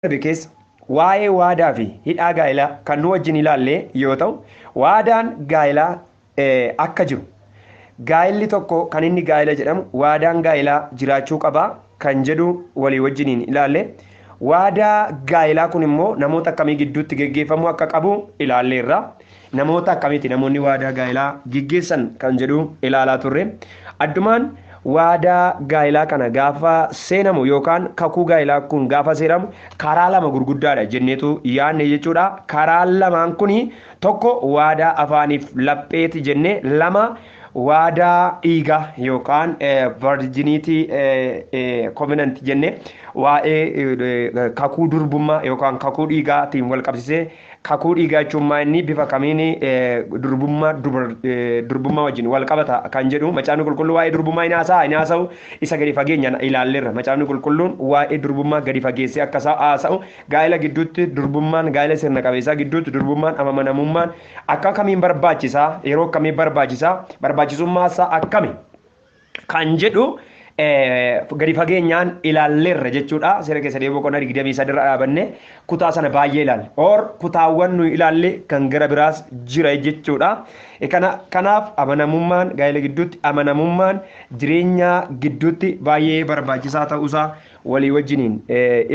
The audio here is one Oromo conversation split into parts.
darbe keessa waa'ee waadaa fi hidhaa gaa'elaa kan nu wajjin ilaalle yoo ta'u, waadaan gaa'elaa akka jiru, gaa'elli tokko kan inni gaa'ela jedhamu waadaan gaa'elaa jiraachuu qaba kan jedhu walii wajjiniin ilaalle. Waadaa gaa'elaa kun immoo namoota akkamii gidduutti geggeeffamuu akka qabu ilaalleerra. Namoota akkamiiti namoonni waadaa gaa'elaa geggeessan kan jedhu ilaalaa turre. Addumaan waadaa gaa'elaa kana gaafa seenamu yookaan kakuu gaa'elaa kun gaafa seeramu karaa lama gurguddaadha jenneetu yaadne jechuudha. Karaan lamaan kun tokko waadaa afaaniif lapheeti jenne lama waadaa dhiigaa yookaan virginitii covenant jenne waa'ee kakuu durbummaa yookaan kakuu dhiigaatiin wal qabsisee Kakuu dhiigaa jechuun maa inni bifa kamiin durbummaa durbummaa wajjin wal qabata kan jedhu macaafni qulqulluu waa'ee durbummaa hin haasa'a hin haasa'u isa gadi fageenyaan ilaalleerra macaafni qulqulluun waa'ee durbummaa gadi fageessee akka isaa haasa'u gaa'ela gidduutti durbummaan gaa'ela sirna qabeessaa gidduutti durbummaan amanamummaan akka kamiin barbaachisaa yeroo akkamii barbaachisaa barbaachisummaa isaa akkami kan jedhu gadi fageenyaan ilaalleerra jechuudha. Seera keessa deebi'uu boqonnaa 23 irra dhaabanne kutaa sana baay'ee ilaalle. Or kutaawwan nuyi ilaalle kan gara biraas jira jechuudha. Kana kanaaf amanamummaan gaa'ela gidduutti amanamummaan jireenya gidduutti baay'ee barbaachisaa ta'uusaa walii wajjiniin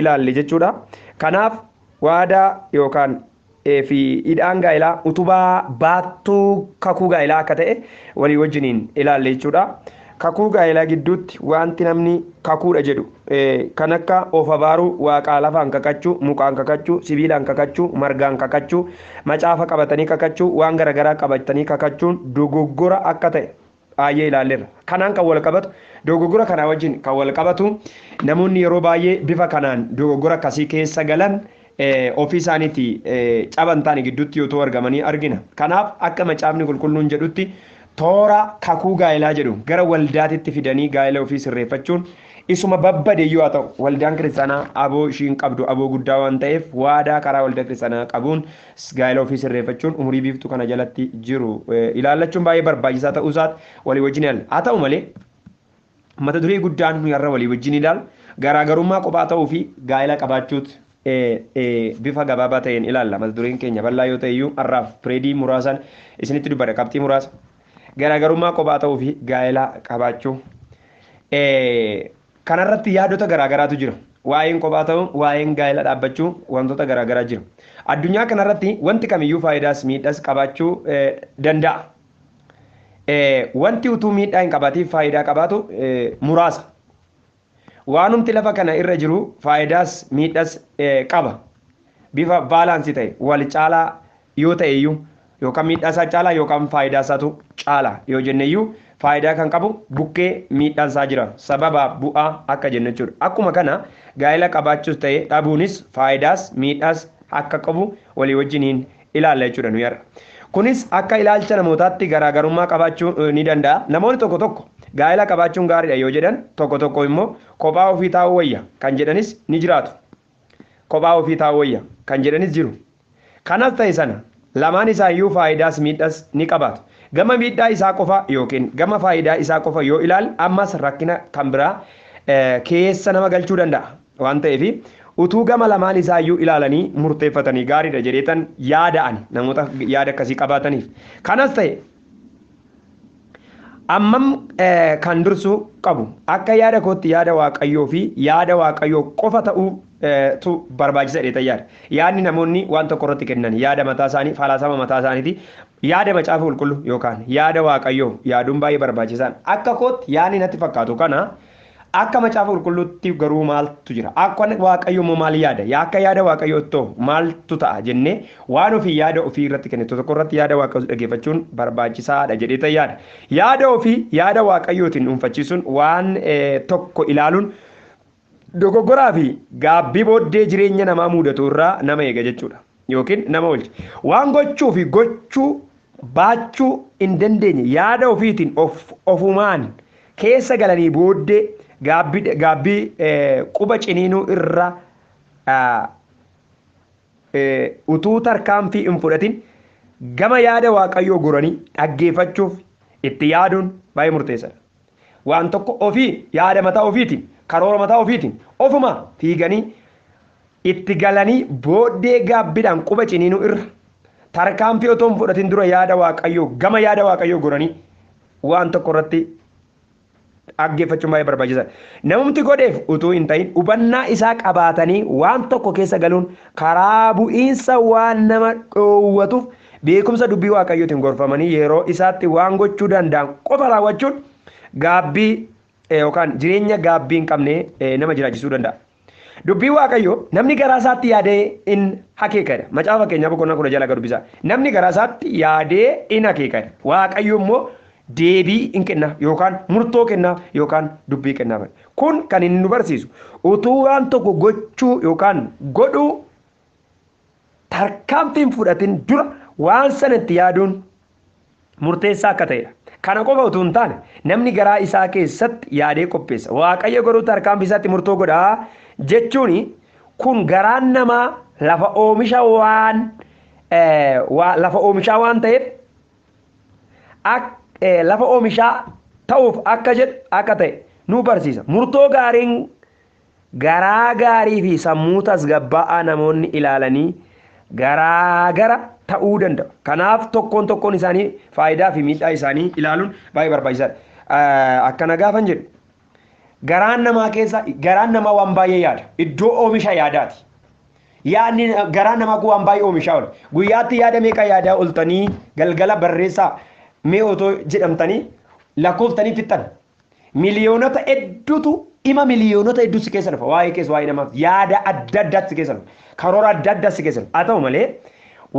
ilaalle jechuudha. Kanaaf waadaa yookaan fi hidhaan gaa'elaa utubaa baattuu kakuu gaa'elaa akka ta'e walii wajjiniin ilaalle jechuudha. Kakuu gaa'elaa gidduutti wanti namni kakuudha jedhu kan akka of abaaruu, waaqaa lafaan kakachuu, mukaan kakachuu, sibiilaan kakachuu, margaan kakachuu, macaafa qabatanii kakachuu, waan garagaraa qabatanii kakachuun dogoggora akka ta'e baay'ee ilaalleerra. Kanaan kan walqabatu dogoggora kanaa wajjin kan walqabatu namoonni yeroo baay'ee bifa kanaan dogoggora akkasii keessa galan ofii isaaniiti caban ta'anii gidduutti utuu argamanii argina. Kanaaf akka macaafni qulqulluun jedhutti toora kakuu gaa'elaa jedhu gara waldaatitti fidanii gaa'ela ofii sirreeffachuun isuma babbade iyyuu haa ta'u waldaan kiristaanaa aboo ishiin qabdu aboo guddaa waan ta'eef waadaa karaa waldaa kiristaanaa qabuun Gaa'ela ofii sirreeffachuun umurii biiftuu kana jalatti jiru ilaallachuun baay'ee barbaachisaa ta'uu isaati walii wajjin ilaalla. Haa ta'u malee mata duree guddaan nuyi har'a walii wajjin ilaalu garaagarummaa kophaa ta'uu fi gaa'ela qabaachuuti. Bifa gabaabaa ta'een ilaalla. Mata dureen keenya bal'aa yoo ta'e iyyuu har'aaf pireedii muraasaan isinitti dubbadha qabxii muraasa. Garaagarummaa kophaa ta'uu fi gaa'ela qabaachuu. Kana irratti yaadota garaa garaatu jira. Waa'een kophaa ta'uu, waa'een gaa'ela dhaabbachuu wantoota garaa garaa jiru. Addunyaa kana irratti wanti kamiyyuu faayidaas miidhas qabaachuu danda'a. Wanti utuu miidhaa hin qabaatiin faayidaa qabaatu muraasa. Waanumti lafa kana irra jiru faayidaas miidhas qaba. Bifa baalaansii ta'e wal caalaa yoo ta'e iyyuu yookaan miidhaa isaa caalaa yookaan faayidaa isaatu caala yoo jenne iyyuu faayidaa kan qabu bukkee miidhaan isaa jira sababa bu'aa akka jennu jechuudha. Akkuma kana gaa'ela qabaachuus ta'e dhabuunis faayidaas miidhaas akka qabu walii wajjin hin ilaalla jechuudha nuyi har'a. Kunis akka ilaalcha namootaatti garaa garummaa qabaachuu ni danda'a. Namoonni tokko tokko gaa'ela qabaachuun gaariidha yoo jedhan tokko tokko immoo kophaa ofii taa'uu wayya kan jedhanis ni jiraatu. Kophaa ofii taa'uu wayya kan jedhanis jiru. Kanas ta'e sana, lamaan isaayyuu faayidaas miidhas ni qabaatu. Gama miidhaa isaa qofa ykn gama faayidaa isaa qofa yoo ilaal ammas rakkina kan biraa keessa nama galchuu danda'a. Waan ta'eef utuu gama lamaan isaayyuu ilaalanii murteeffatanii gaariidha jedheetan yaada ani namoota yaada akkasii qabaataniif. Kanas ta'e Ammam kan dursuu qabu akka yaada kootti yaada Waaqayyoo fi yaada Waaqayyoo qofa ta'uu tu barbaachisa jedhee yaada. Yaadni namoonni waan tokko irratti kennan yaada mataa isaanii, falaasama mataa isaaniiti. Yaada macaafa qulqulluu yookaan yaada Waaqayyoo yaaduun baay'ee barbaachisaadha. Akka kootti yaadni natti fakkaatu kana Akka macaafa qulqulluutti garuu maaltu jira? Akka Waaqayyo immoo maal yaada? Yaa akka yaada Waaqayyo ittoo maaltu ta'a jennee waan ofii yaada ofii irratti kennitu tokko irratti yaada Waaqayyoos dhageeffachuun barbaachisaa dha jedhee ta'e yaada. Yaada ofii yaada Waaqayyootiin dhuunfachiisuun waan tokko ilaaluun dogoggoraa fi gaabbii booddee jireenya namaa muudatu irraa nama eega jechuu dha. yookiin nama oolche. Waan gochuu fi gochuu baachuu hin dandeenye yaada ofiitiin of, ofumaan keessa galanii booddee gaabbii, gaabbii eh, quba ciniinuu irra ah, eh, utuu tarkaanfii hin fudhatin gama yaada Waaqayyoo goranii dhaggeeffachuuf itti yaaduun baay'ee murteessaadha. waan tokko ofii yaada mataa ofiitiin karoora mataa ofiitiin ofuma fiiganii itti galanii booddee gaabbidhaan quba ciniinuu irra tarkaanfii otoo hin fudhatin dura yaada waaqayyoo gama yaada waaqayyoo goranii waan tokko irratti dhaggeeffachuun baay'ee barbaachisaadha. Namumti godheef utuu hin ta'in hubannaa isaa qabaatanii waan tokko keessa galuun karaa bu'iinsa waan nama dhoowwatuuf Beekumsa Dubbii Waaqayyootiin gorfamanii yeroo isaatti waan gochuu danda'an qofa raawwachuun gaabbii yookaan jireenya gaabbii hin qabne nama jiraachisuu danda'a. Dubbii Waaqayyoo namni garaa isaatti yaadee in akeekadha. Macaafa Fakkeenyaa boqonnaa kudha jalaga dubbisa. Namni garaa isaatti yaadee in akeekadha. Waaqayyo immoo deebii in kennaaf yookaan murtoo kennaaf yookaan dubbii kennaaf. Kun kan inni nu barsiisu utuu waan tokko gochuu yookaan godhuu tarkaanfiin fudhatin dura waan sana itti yaaduun murteessaa akka ta'edha. Kana qofa utuu hin taane namni garaa isaa keessatti yaadee qopheessa. Waaqayyo garuu tarkaanfii isaatti murtoo godha jechuun kun garaan namaa lafa oomisha waan lafa oomishaa waan ta'eef lafa oomishaa ta'uuf akka jedhu akka ta'e nu barsiisa. Murtoo gaariin Garaa gaarii fi sammuu tasgabbaa'aa namoonni ilaalanii garaagara ta'uu danda'u. Kanaaf tokkoon tokkoon isaanii faayidaa fi miidhaa isaanii ilaaluun baay'ee barbaachisaadha. Akkana gaafan jedhu garaan namaa keessa garaan namaa waan baay'ee yaada. Iddoo oomisha yaadaati. Yaadni garaan namaa kun waan baay'ee oomishaa oole. Guyyaatti yaada meeqa yaadaa oltanii galgala barreessaa mee otoo jedhamtanii lakkoftanii fixxan. Miliyoonota hedduutu dhima miliyoonota hedduu si keessa dhufa. Waa'ee kees waa'ee namaaf yaada adda addaatti si keessa dhufa. Karoora adda addaa si keessa dhufa. Haa ta'u malee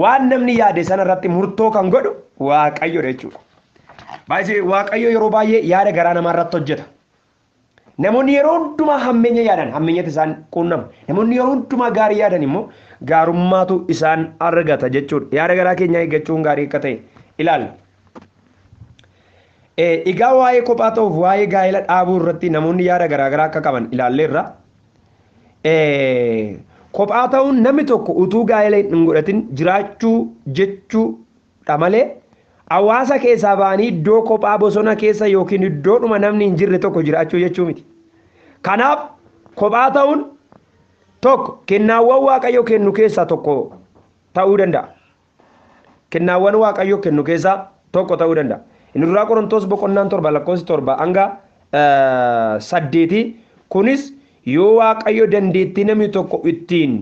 waan namni yaade sana irratti murtoo kan godhu waaqayyoodha jechuudha. Baay'ee waaqayyo yeroo baay'ee yaada garaa namaa irratti hojjeta. Namoonni yeroo hundumaa hammeenya yaadan hammeenyatti isaan quunnama. Namoonni yeroo hundumaa gaarii yaadan immoo gaarummaatu isaan argata jechuudha. Yaada garaa keenyaa eeggachuun gaarii akka ta'e ilaalla. Egaa waa'ee kophaa ta'uuf waa'ee gaa'ela dhaabuu irratti namoonni yaada garaagaraa akka qaban ilaalleerra. Kophaa ta'uun namni tokko utuu gaa'ela hin godhatin jiraachuu jechuudha malee hawaasa keessaa ba'anii iddoo kophaa bosona keessa yookiin iddoodhuma namni hin jirre tokko jiraachuu jechuu miti. Kanaaf kophaa ta'uun tokko kennaawwan waaqayyo kennu keessaa tokko ta'uu danda'a. kennaawwan Waaqayyo kennu keessaa tokko ta'uu danda'a. Inni duraa Qorontoos boqonnaan torba lakkoofsi torba hanga saddeeti. Kunis yoo Waaqayyo dandeettii namni tokko ittiin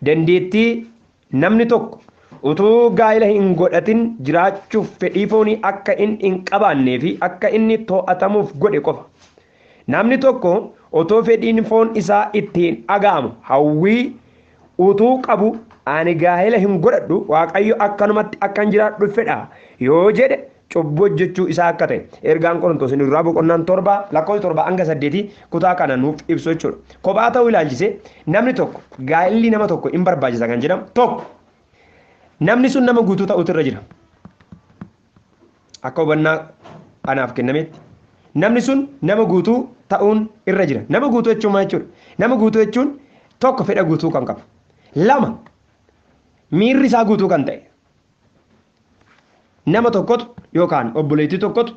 dandeettii namni tokko utuu gaa'ila hin godhatin jiraachuuf fedhii foonii akka inni hin qabaannee fi akka inni to'atamuuf godhe qofa. Namni tokko otoo fedhiin foon isaa itti hin dhaga'amu hawwii utuu qabu ani gaa'ela hin godhadhu Waaqayyo akkanumatti akkan jiraadhu fedha yoo jedhe cubbuu hojjechuu isaa akka ta'e ergaan Qorontoos inni duraa boqonnaan torba lakkoofsa torba hanga saddeetii kutaa kana nuuf ibsu jechuudha. Kophaa ta'uu ilaalchisee namni tokko gaa'elli nama tokko hin barbaachisa kan jedhamu tokko namni sun nama guutuu ta'utu irra jira. Akka hubannaa anaaf kennametti namni sun nama guutuu ta'uun irra jira. Nama guutuu jechuun maal jechuudha? Nama guutuu jechuun tokko fedha guutuu kan qabu. Lama miirri isaa guutuu kan ta'e. Nama tokkotu yookaan obboleettii tokkotu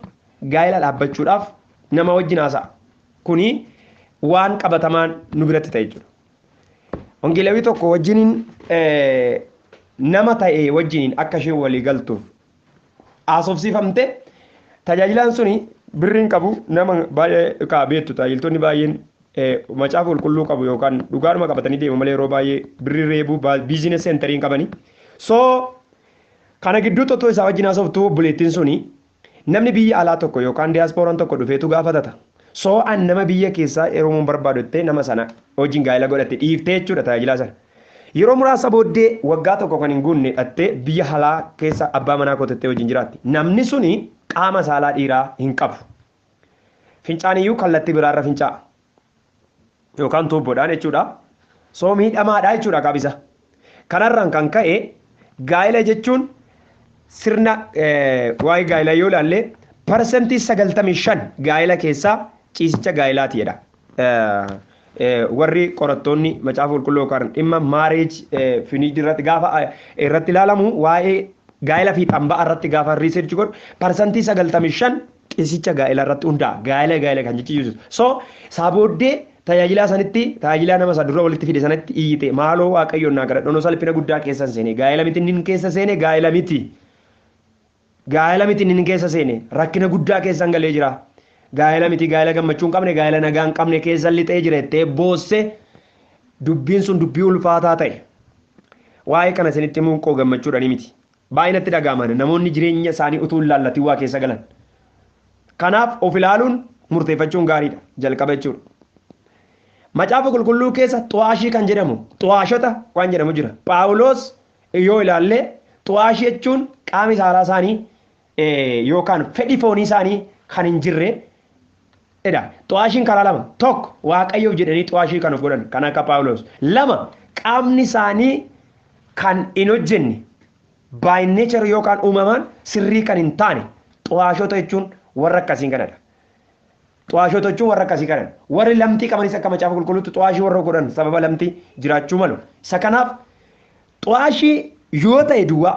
gaa'ela dhaabbachuudhaaf nama wajjin haasa'a. Kuni waan qabatamaan nu biratti ta'e jechuudha. Wangeelawii tokko wajjiniin eh, nama ta'e wajjiniin akka isheen walii galtuuf haasofsiifamte tajaajilaan suni birriin qabu nama baay'ee kaa beektu tajaajiltoonni baay'een eh, macaafa qulqulluu qabu yookaan dhugaadhuma qabatanii deemu malee yeroo baay'ee birrii reebuu biiziines seentariin qabanii so kana gidduutti otoo isaa wajjin haasoftu obboleettiin suni Namni biyya alaa tokko yookaan diasporan tokko dhufeetu gaafatata. So an nama biyya keessaa heerumuun barbaadu jettee nama sana wajjin gaa'ila godhatte dhiiftee jechuudha tajaajilaa sana. Yeroo muraasa booddee waggaa tokko kan hin guunne dhattee biyya halaa keessa abbaa manaa koo tattee wajjin jiraatti. Namni suni qaama saalaa dhiiraa hin qabu. Fincaaniyyuu kallatti biraarra fincaa'a. yookaan tuubboodhaan jechuudha. Soo miidhamaadha jechuudha qabisa. Kanarraan kan ka'e gaa'ela jechuun sirna waa'ee gaa'elaa yoo ilaalle parsantii sagaltamii shan gaa'ela keessaa ciisicha gaa'elaati jedha. Warri qorattoonni macaafa qulqulluu yookaan dhimma maareej finiidii irratti gaafa irratti ilaalamu waa'ee gaa'ela fiixaan ba'a irratti gaafa riisirchi godhu parsantii sagaltamii shan Qeesicha gaa'ela irratti hundaa'a. Gaa'ela gaa'ela kan jechi Yesuus. So isaa booddee tajaajilaa sanitti tajaajilaa nama isaa dura walitti fide sanatti iyyite maaloo waaqayyoon naa kadhadhu anoo salphina guddaa keessa hin seene gaa'ela miti inni keessa seene gaa'ela miti gaa'ela miti inni keessa seene rakkina guddaa keessa hin galee jira gaa'ela miti gaa'ela gammachuu hin qabne gaa'ela nagaa hin qabne keessa lixee jira jettee boosse dubbiin sun dubbii ulfaataa ta'e waa'ee kana isinitti himuun koo gammachuudhani miti Baay'ee natti dhaga'ama ana namoonni jireenya isaanii utuu hin laallatin waa keessa galan. Kanaaf of ilaaluun murteeffachuun gaariidha jalqaba jechuudha. Macaafa qulqulluu keessa xu'aashii kan jedhamu xu'aashota waan jedhamu jira. Phaawulos yoo ilaallee xu'aashii jechuun qaami saalaa isaanii yookaan fedhi foonii isaanii kan hin jirre dha. Xu'aashiin karaa lama, tokko, Waaqayyoof jedhanii xu'aashii kan of godhan kan akka Phaawulos. Lama, qaamni isaanii kan hin hojjenne, by nature yookaan uumamaan sirrii kan hin taane, xu'aashota jechuun warra akkasiin kana dha. Xu'aashota jechuun warra akkasii kana dha. Warri lamxii qabanis akka macaafa qulqulluutti xu'aashii warra of godhan sababa lamxii jiraachuu malu. Isa kanaaf xu'aashii yoo ta'e duwwaa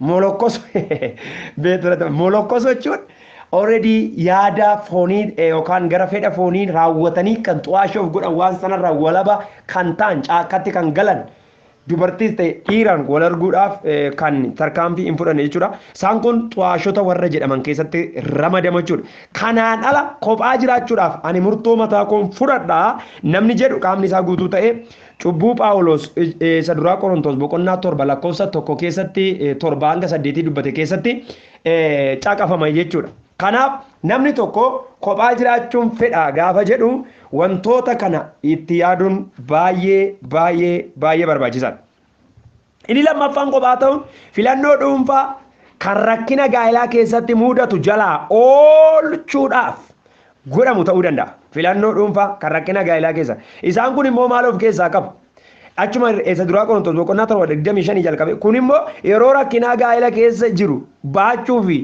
Molokkoso beektota molokkoso jechuun already yaada foonii eh, yookaan gara fedha foonii raawwatanii kan xu'aashii of godhan waan sanarraa walaba kan ta'an caakkatti kan galan dubartiis ta'e dhiiraan wal arguudhaaf eh, kan tarkaanfii hin fudhanne jechuudha. Isaan kun xu'aashota warra jedhaman keessatti ramadama jechuudha. Kanaan ala kophaa jiraachuudhaaf ani murtoo mataa koon fudhadha namni jedhu qaamni isaa guutuu ta'e Cubbuu Phaawulos isa duraa Qorontos boqonnaa torba lakkoofsa tokko keessatti torba hanga saddeetii dubbate keessatti caqafama jechuudha. Kanaaf namni tokko kophaa jiraachuun fedha gaafa jedhu wantoota kana itti yaaduun baay'ee baay'ee baay'ee barbaachisaadha. Inni lammaffaan kophaa ta'uun filannoo dhuunfaa kan rakkina gaa'elaa keessatti muudatu jalaa oolchuudhaaf godhamu ta'uu danda'a. Filannoo dhuunfaa kan rakkina gaa'elaa keessa. Isaan kun immoo maal of keessaa qabu? Achuma isa duraa Qorontos boqonnaa torba digdamii shanii jalqabe. Kun immoo yeroo rakkinaa gaa'ela keessa jiru baachuu fi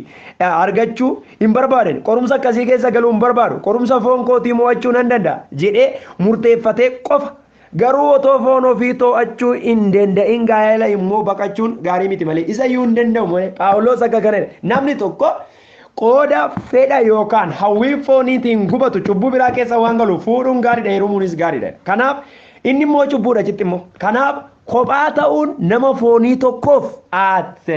argachuu hin barbaadan. Qorumsa akkasii keessa galuu hin barbaadu. Qorumsa foon kootii mo'achuu nan danda'a jedhee murteeffatee qofa Garuu otoo foon ofii too'achuu hin danda'in gaa'ela immoo baqachuun gaarii miti malee isa iyyuu hin danda'u malee Phaawulos akka kana jedhe namni tokko qooda fedha yookaan hawwii fooniitiin gubatu cubbuu biraa keessa waan galu fuudhuun gaariidha heerumuunis gaariidha. Kanaaf inni immoo cubbuudha achitti immoo. Kanaaf kophaa ta'uun nama foonii tokkoof at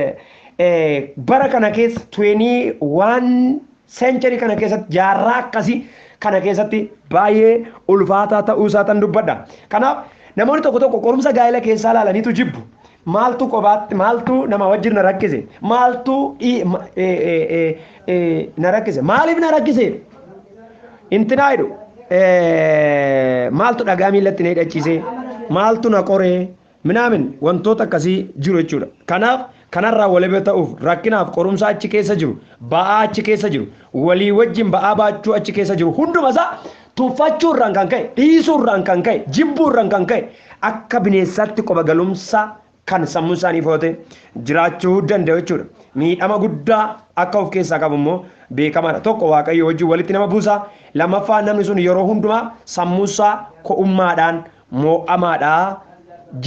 bara kana keessa 21 Century kana keessatti jaarraa akkasii kana keessatti baay'ee ulfaataa ta'uu isaa tan dubbadha. Kanaaf namoonni tokko tokko qorumsa gaa'ela keessaa ilaalaniitu jibbu. Maaltu qobaatti maaltu nama wajjin na rakkise maaltu dhii- ma- ee, ee, ee, ee, na rakkise maaliif na rakkise intinaa jedhu ee, maaltu dhagaa miillatti na hidhachiise maaltu na qoree minaamin wantoota akkasii jiru jechuudha. Kanaaf kanarraa walaba ta'uuf rakkinaaf qorumsaa achi keessa jiru, ba'aa achi keessa jiru, walii wajjin ba'aa baachuu achi keessa jiru hunduma isaa tuffachuu irraan kan ka'e, dhiisuu irraan kan ka'e, jibbuu irraan kan ka'e akka bineensaatti qoba galumsaa kan sammuu isaanii foote jiraachuu danda'u jechuudha. Miidhama guddaa akka of keessaa qabu immoo beekamaadha. Tokko waaqayyo wajjin walitti nama buusa. Lammaffaa namni sun yeroo hundumaa sammuu isaa ko'ummaadhaan moo'amaadha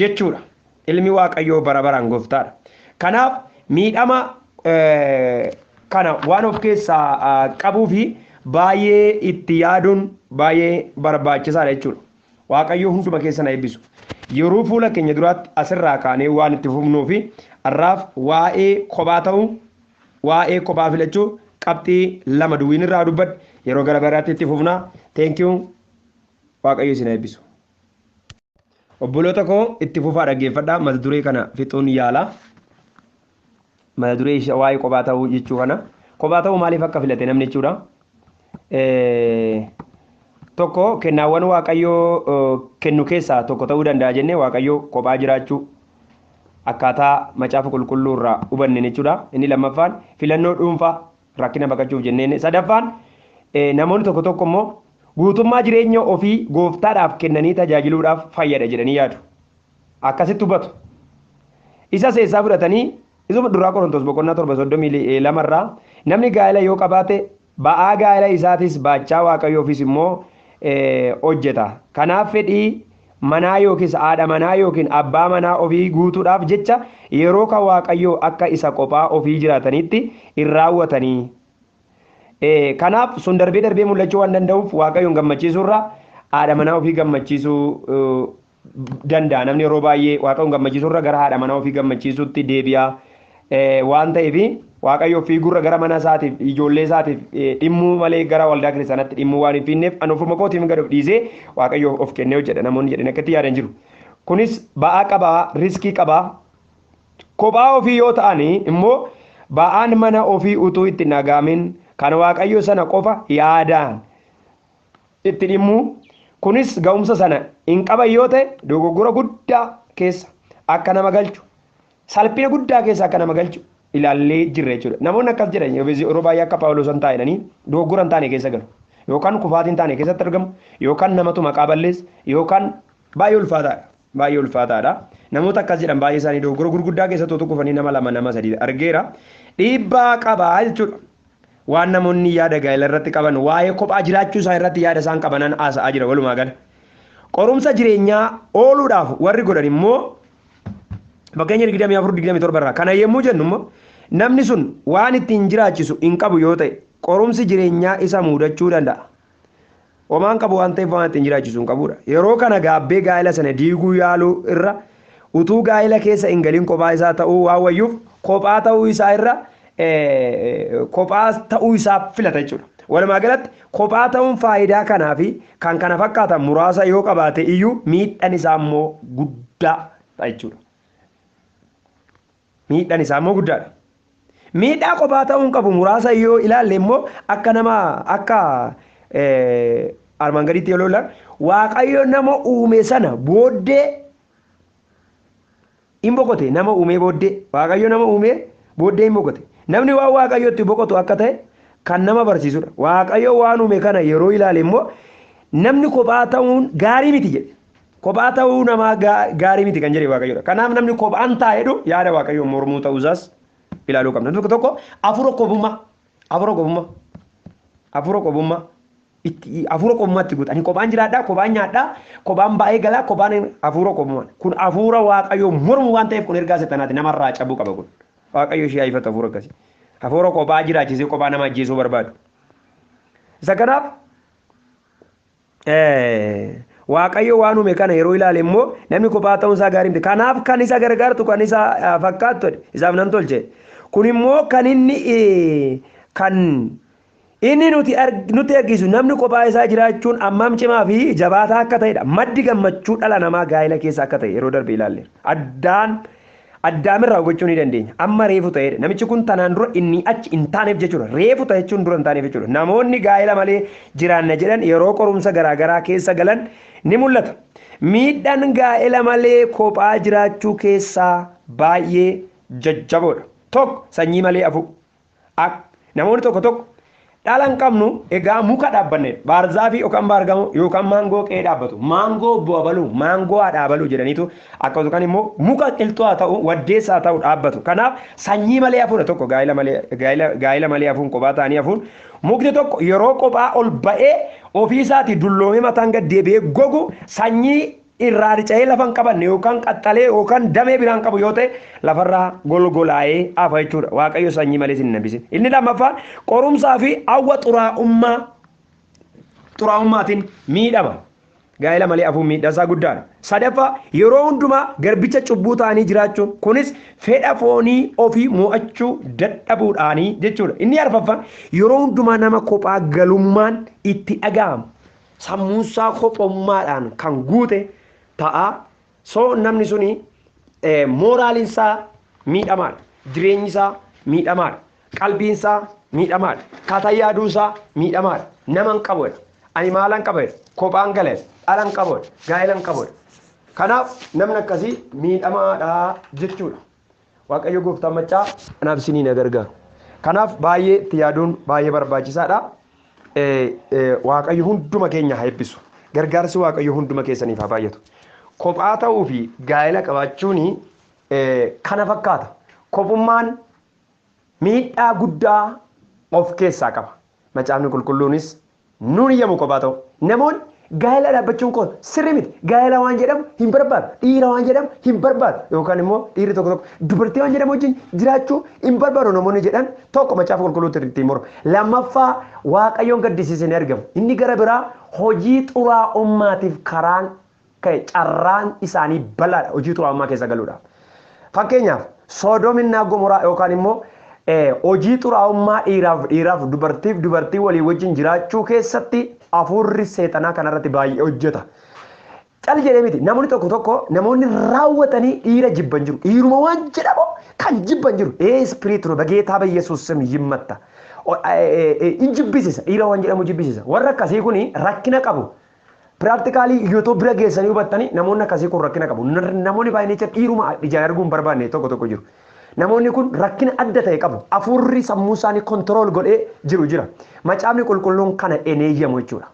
jechuudha. Ilmi Waaqayyoo bara baraan gooftaadha. Kanaaf miidhama kana waan of keessaa qabuu fi baay'ee itti yaaduun baay'ee barbaachisaadha jechuudha. Waaqayyoo hunduma keessa na eebbisu. Yeroo fuula keenya duraatti asirraa kaanee waan itti fufnuu fi har'aaf waa'ee kophaa ta'uu waa'ee kophaa filachuu qabxii lama duwwiin irraa dubbadhe yeroo gara biraatti itti fufnaa. Thank you. Waaqayyo isin haa eebbisu. Obboloota koo itti fufaa dhaggeeffadhaa mata duree kana fixuun yaala. Mata duree ishee waa'ee kophaa ta'uu jechuu kana. Kophaa ta'uu maaliif akka filate namni jechuudha. Tokko kennaawwan waaqayyoo kennu keessaa tokko ta'uu danda'a jennee waaqayyoo kophaa jiraachuu akkaataa macaafa qulqulluu irraa hubanne jechuudha. Inni lammaffaan filannoo dhuunfaa rakkina baqachuuf jenneen sadaffaan namoonni tokko tokko immoo guutummaa jireenya ofii gooftaadhaaf kennanii tajaajiluudhaaf fayyada jedhanii yaadu akkasitti hubatu isa seessaa fudhatanii isuma duraa qorontos boqonnaa torba soddomii lama irraa namni gaa'ela yoo qabaate ba'aa gaa'ela isaatis baachaa waaqayyoo ofiis immoo hojjeta kanaaf fedhii manaa yookiis haadha manaa yookiin abbaa manaa ofii guutuudhaaf jecha yeroo ka Waaqayyoo akka isa qophaa ofii jiraataniitti hin raawwatanii. Ee, kanaaf sun darbee darbee mul'achuu waan danda'uuf Waaqayyoon gammachiisuu irra haadha manaa ofii gammachiisuu eh, danda'a. Namni yeroo baay'ee Waaqayyoon gammachiisuu irra gara haadha manaa ofii gammachiisuutti deebi'a. waan ta'eef Waaqayyo ofii gurra gara mana isaatiif ijoollee isaatiif dhimmuu malee gara waldaa kiristaanaatti dhimmuu waan hin fiinneef ani ofuma kootiin gad of dhiisee Waaqayyo of kennee hojjedha namoonni jedhan akkatti yaadan jiru. Kunis ba'aa qaba, riskii qaba. Kophaa ofii yoo ta'an immoo ba'aan mana ofii utuu itti nagaamin kan Waaqayyo sana qofa yaadaan itti dhimmuu kunis ga'umsa sana hin qaban yoo ta'e dogoggora guddaa keessa akka nama galchu salphina guddaa keessa akka nama galchu ilaallee jirra jechuudha. Namoonni akkas jedhan yeroo baay'ee akka Phaawulos hin taa'inanii dogoggora hin taane keessa galu. Yookaan kufaatii hin taane keessatti argamu, yookaan namatu maqaa balleessa, yookaan baay'ee ulfaataadha. Baay'ee ulfaataadha. Namoota akkas jedhan baay'ee isaanii dogoggora gurguddaa keessatti otoo kufanii nama lama nama sadii argeera. Dhiibbaa qaba jechuudha. Waan namoonni yaada gaa'ela irratti qaban waa'ee kophaa jiraachuu isaa irratti yaada isaan qabanan haasa'aa jira walumaa gala. Qorumsa jireenyaa ooluudhaaf warri godhan immoo Fakkeenya 24-27 irraa kana yommuu jennu immoo namni sun waan ittiin jiraachisu hin qabu yoo ta'e qorumsi jireenyaa isa muudachuu danda'a. Homaan qabu waan ta'eef waan ittiin jiraachisu hin qabudha. Yeroo kana gaabbee gaa'ela sana diiguu yaaluu irra utuu gaa'ela keessa hin galin kophaa isaa ta'uu waan wayyuuf kophaa ta'uu isaa irra kophaa ta'uu isaa filata jechuudha. Walumaa galatti kophaa ta'uun faayidaa kanaa fi kan kana fakkaatan muraasa yoo qabaate iyyuu miidhaan isaa immoo guddaa ta'a jechuudha. Miidhaan isaa immoo guddaadha. Miidhaa kophaa ta'uun qabu muraasa yoo ilaalle immoo akka nama akka armaan gadiitti yoo ilaalle waaqayyo nama uume sana booddee in boqote nama uumee booddee. Waaqayyo nama uumee booddee in boqote. Namni waan Waaqayyootti boqotu akka ta'e kan nama barsiisudha. Waaqayyo waan uume kana yeroo ilaale immoo namni kophaa ta'uun gaarii miti jedhe. Kophaa ta'uu namaa gaa- gaarii miti kan jedhe Waaqayyodha. Kanaaf namni kophaan taa'edhu yaada Waaqayyoo mormuu ta'uusaas ilaaluu qabna. Tokko tokko hafuura kophummaa Afuura qofummaa. Afuura qofummaa. Itti afuura qofummaa itti guuta. Ani kophaan jiraadhaa, kophaan nyaadhaa, kophaan ba'ee galaa, kophaan afuura qofummaa. Kun afuura Waaqayyoo mormu waan ta'eef kun ergaa seexanaati. Nama irraa cabuu qaba kun. Waaqayyo ishee haa ifatu afuura akkasii. Afuura kophaa jiraachisee kophaa nama ajjeesuu barbaadu. Isa kanaaf Waaqayyo waan uume kana yeroo ilaale immoo namni kophaa ta'uun isaa gaarii miti. Kanaaf kan isa gargaartu kan isa fakkaattu isaaf nan tolche. Kun immoo kan inni kan inni nuti nutti argisu namni kophaa isaa jiraachuun ammam cimaa fi jabaataa akka ta'edha. Maddi gammachuu dhala namaa gaa'ela keessa akka ta'e yeroo darbe ilaalle. Addaan Addaam irraa hubachuu ni dandeenya. Amma reefu ta'eedha. Namichi kun tanaan dura innii achi hin taaneef jechuudha. Reefu ta'e jechuun dura hin taaneef jechuudha. Namoonni gaa'ela malee jiraanna jedhan yeroo qorumsa garaa garaa keessa galan ni mul'ata. Miidhaan gaa'ela malee kophaa jiraachuu keessaa baay'ee jajjaboodha. 1, Sanyii malee hafuu. A. Namoonni tokko tokko dhala hin qabnu egaa muka dhaabbanne baarzaafii yookaan baargamoo yookaan maangoo qe'ee dhaabbatu maangoo obbo abaluu maangoo haadha abaluu jedhaniitu akka yookaan immoo muka qilxuu haa ta'u waddeessa haa ta'u dhaabbatu kanaaf sanyii malee hafuudha tokko gaa'ila malee gaa'ila gaa'ila malee hafuun kophaa ta'anii hafuun mukti tokko yeroo kophaa ol ba'ee ofiisaatii dulloomee mataan gad deebi'ee gogu sanyii irraa rica'ee lafa hin qabanne yookaan qaxxalee yookaan damee biraan qabu yoo ta'e lafarraa golgolaa'ee hafa jechuudha. Waaqayyo sanyii malee sin nambise. Inni lammaffaan qorumsaa fi hawwa xuraa'ummaa xuraa'ummaatiin miidhama. Gaa'ela malee hafuun miidhasaa guddaadha. Sadaffaa yeroo hundumaa garbicha cubbuu ta'anii jiraachuun kunis fedha foonii ofii mo'achuu dadhabuudhaanii jechuudha. Inni arfaffaan yeroo hundumaa nama kophaa galummaan itti dhaga'ama. sammuunsaa kophummaadhaan kan guute ta'a. So namni suni mooraaliinsaa miidhamaadha. Jireenyisaa miidhamaadha. Qalbiinsaa miidhamaadha. Kata yaaduusaa miidhamaadha. Nama hin qabu jedha. Ani maalan qaba jedha. Kophaan gala jedha. Dhala hin qabu jedha. Gaa'ela hin qabu jedha. Kanaaf namni akkasii miidhamaadha jechuudha. Waaqayyo gooftaan maccaa anaaf isiniin haa gargaaru. Kanaaf baay'ee itti yaaduun baay'ee barbaachisaadha. Waaqayyo hunduma keenya haa eebbisu. Gargaarsi Waaqayyo hunduma keessaniif haa baay'atu. Kophaa ta'uu fi gaa'ela qabaachuun kana fakkaata. Kophummaan miidhaa guddaa of keessaa qaba. Macaafni qulqulluunis Nuun hin yamu kophaa ta'uu. Namoonni gaa'ela dhaabbachuun koo sirrii miti, gaa'ela waan jedhamu hin barbaadu, dhiira waan jedhamu hin barbaadu yookaan immoo dhiirri tokko tokko dubartii waan jedhamu wajjin jiraachuu hin barbaadu namoonni jedhan tokko Macaafa Qulqulluutti ittiin mormu. Lammaffaa Waaqayyoon gaddisiise ni argama. Inni gara biraa hojii xuraa'ummaatiif karaan ka'e carraan isaanii bal'aadha hojii xuraa'ummaa keessa galuudhaaf. Fakkeenyaaf Soodom innaa Gomoraa yookaan immoo hojii xuraa'ummaa dhiiraaf dhiiraaf dubartiif dubartii walii wajjin jiraachuu keessatti hafuurri seexanaa kanarratti baay'ee hojjeta. Cal jedhee miti namoonni tokko tokko namoonni raawwatanii dhiira jibban jiru. Dhiiruma waan jedhamu kan jibban jiru. Ee ispiriit nu bageetaa bayyesuus sim yimmatta. Hin jibbisisa dhiira waan jedhamu jibbisisa. Warra akkasii kun rakkina qabu. Practically YouTube bira geessanii hubattanii namoonni akkasii kun rakkina qabu. N- Namoonni baay'inni jecha dhiiruma ijaan arguu hin barbaanne tokko tokko jiru. Namoonni kun rakkina adda ta'e qabu. Afuurri sammuu isaanii control godhee jiru jira. Macaafni qulqulluun kana hin eeyyamu jechuudha.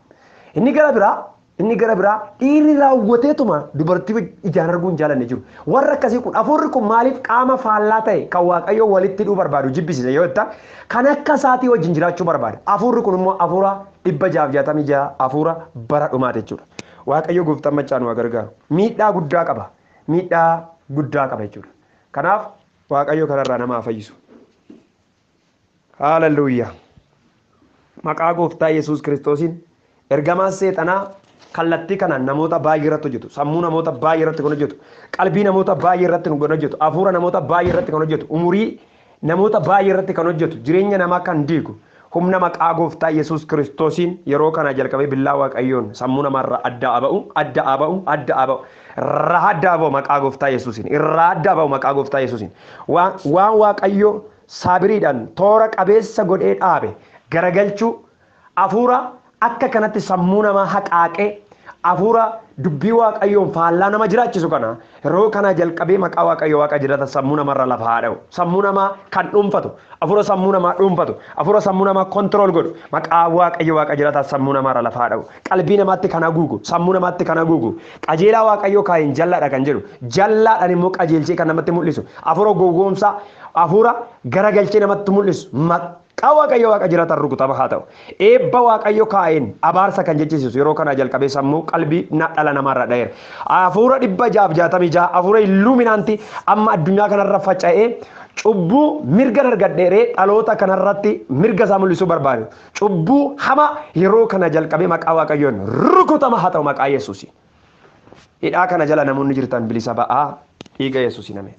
Inni gara biraa inni gara biraa dhiirri raawwateetuma dubartii waj- ijaan arguu hin jaalanne jiru. Warra akkasii kun afuurri kun maaliif qaama faallaa ta'e kan waaqayyoo walitti hidhuu barbaadu jibbisiisa yoo jettan kan akka isaatii wajjin jiraachuu barbaada. Afuurri kun immoo afuura 666 afuura bara dhumaati jechuudha. Waaqayyo gooftaan machaa nu haa gargaaru. Miidhaa guddaa qaba. Miidhaa guddaa qaba jechuudha. Kanaaf Waaqayyo kanarraa nama haa fayyisu. Haaleluyyaa. Maqaa gooftaa Yesuus Kiristoosiin ergamaan seexanaa kallattii kanaan namoota baay'ee irratti hojjetu. Sammuu namoota baay'ee irratti kan hojjetu. Qalbii namoota baay'ee irratti kan hojjetu. Afuura namoota baay'ee irratti kan hojjetu. Umurii Namoota baay'ee irratti kan hojjetu, jireenya namaa kan diigu, humna maqaa gooftaa Yesuus Kiristoosiin yeroo kanaa jalqabee billaa Waaqayyoon sammuu namaa irraa adda haa ba'u, adda haa ba'u, adda haa ba'u, irraa adda haa ba'u maqaa gooftaa Yesuusiin, irraa adda haa ba'u maqaa gooftaa Yesuusiin. Waan, waan Waaqayyo saabiriidhaan toora qabeessa godhee dhaabe garagalchuu, Afuura akka kanatti sammuu namaa haqaaqee, afuura dubbii Waaqayyoon faallaa nama jiraachisu kana yeroo kanaa jalqabee maqaa Waaqayyo Waaqa jiraataa sammuu namarra lafa haa dha'u. Sammuu namaa kan dhuunfatu, afuura sammuu namaa dhuunfatu, afuura sammuu namaa control godhu, maqaa Waaqayyo Waaqa jiraataa sammuu namaarra lafa haa dha'u. Qalbii namaatti kan haguugu, sammuu namaatti kan haguugu, qajeelaa Waaqayyoo kaa'een jallaadha kan jedhu, jallaadhaan immoo qajeelchee kan namatti mul'isu, afuura gowwoomsaa, afuura garagalchee namatti mul'isu, Qa Waaqayyo Waaqa jirataan rukutama haa ta'u. Eebba Waaqayyo kaa'een abaarsa kan jechisiisu yeroo kanaa jalqabee sammuu, qalbii, na, dhala namaa irraa dha'eera. Afuura 666 afuura illuuminaanti amma addunyaa kanarra faca'ee cubbuu mirgan argadheeree dhaloota kanarratti mirga isaa mul'isuu barbaadu. Cubbuu hamaa yeroo kana jalqabee maqaa Waaqayyoon rukutama haa ta'u maqaa Yesuusiin. Hidhaa kana jala namoonni jirtan bilisa ba'aa dhiiga Yesuusiin ameen.